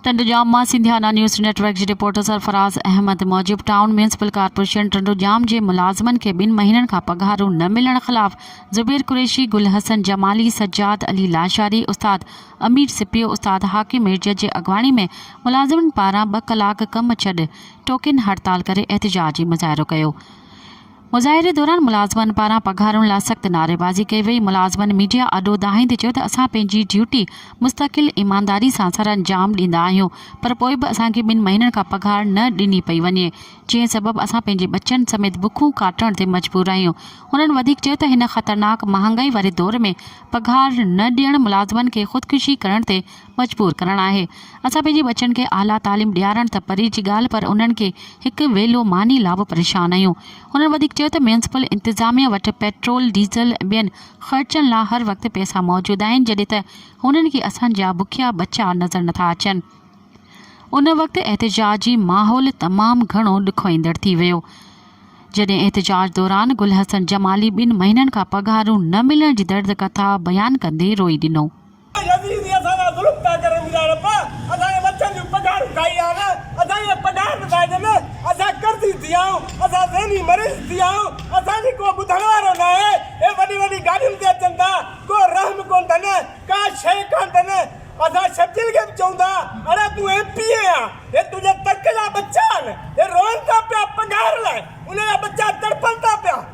ٽنڊوڄام مان Sindhiana news network جي reporter Sarfaraz Ahmed موجب ٽائون ميونسپل ڪارپوريشن ٽنڊوڄام جي ملازمن کي ٻن مهينن کان پگهارون نه ملڻ خلاف زبير قريشي، گل حسن جمالي، سجاد علي لاشاري، استاد امير سپيو، استاد حاڪم ميرجت جي اڳواڻي ۾ ملازمن پاران ٻه ڪلاڪ ڪم ڇڏ ٽوڪين هڙتال ڪري احتجاجي مظاهرو ڪيو. مظاهري دوران ملازمن پاران پگهارن لا سخت نعريبازي ڪئي وئي، ملازمن ميڊيا آڏو دانهيندي چيو ته اسان پنهنجي ڊيوٽي مستقل ايمانداري سان سرانجام ڏيندا آهيون پر پوء به اسان کي ٻن مهينن کان پگهار نه ڏني پئي وڃي جنهن سبب اسان پنهنجي ٻچن سميت بکون ڪاٽڻ تي مجبور آهيون، هنن وڌيڪ چيو ته هن خطرناڪ مهانگائي واري دور ۾ پگهار نه ڏيڻ ملازمن کي خودڪشي ڪرڻ تي مجبور ڪرڻ آهي. اسان پنهنجي ٻچن کي اعليٰ تعليم ڏيارڻ ته پري جي ڳالهه پر انهن کي هڪ ويلو ماني لا به پريشان آهيون. هنن وڌيڪ چيو ته ميونسپل انتظاميه وٽ پيٽرول، ڊيزل ۽ ٻين خرچن لا هر وقت پئسا موجود آهن جڏهن ته هنن کي اسان جا بکيا ٻچا نظر نٿا اچن. ان وقت احتجاجي ماحول تمام گهڻو ڏکوئيندڙ ٿي ويو. جڏهن احتجاج دوران گل حسن جمالي ٻن مهينن کان پگهارون نه ملڻ جي درد ڪٿا بيان ڪندي روئي ڏنو. اي يزيدي اسان سان ظلم پيا ڪرن يا رب اسان کي مڇن جون پگهارون کائي آڻ اسان کي پگهار به ناهي ڏن اسان قرضي ٿي آهيون اسان ذهني مريض ٿي آهيون اسان جي ڪو ٻڌڻ وارو ناهي اهي وڏي وڏي گاڏين تي اچن ٿا ڪو رحم ڪون ٿن ڪا شيء ڪان ٿن اسان شرجيل کي به چئون ٿا اڙي تون ايم پي اي آهين هي تنهنجي ترڪ جا ٻچا آهن هي روئن ٿا پيا پگهار لاء انهن جا ٻچا تڙپن ٿا پيا.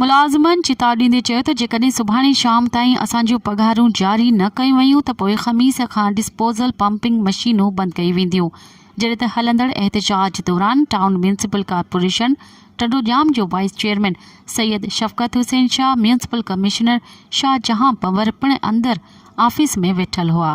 ملازمن چتاء ڏيندي چيو ته جيڪڏهن سڀاڻي شام تائين اسان جون پگهارون جاري نه ڪيون ويون ته پوء خميس کان ڊسپوزل پمپنگ مشينون بند ڪيون وينديون جڏهن ته هلندڙ احتجاج دوران ٽائون ميونسپل ڪارپوريشن ٽنڊوڄام جو vice chairman Syed Shafqat Hussain Shah municipal commissioner Shahjahan Panhwar پڻ اندر آفيس ۾ ويٺل هئا.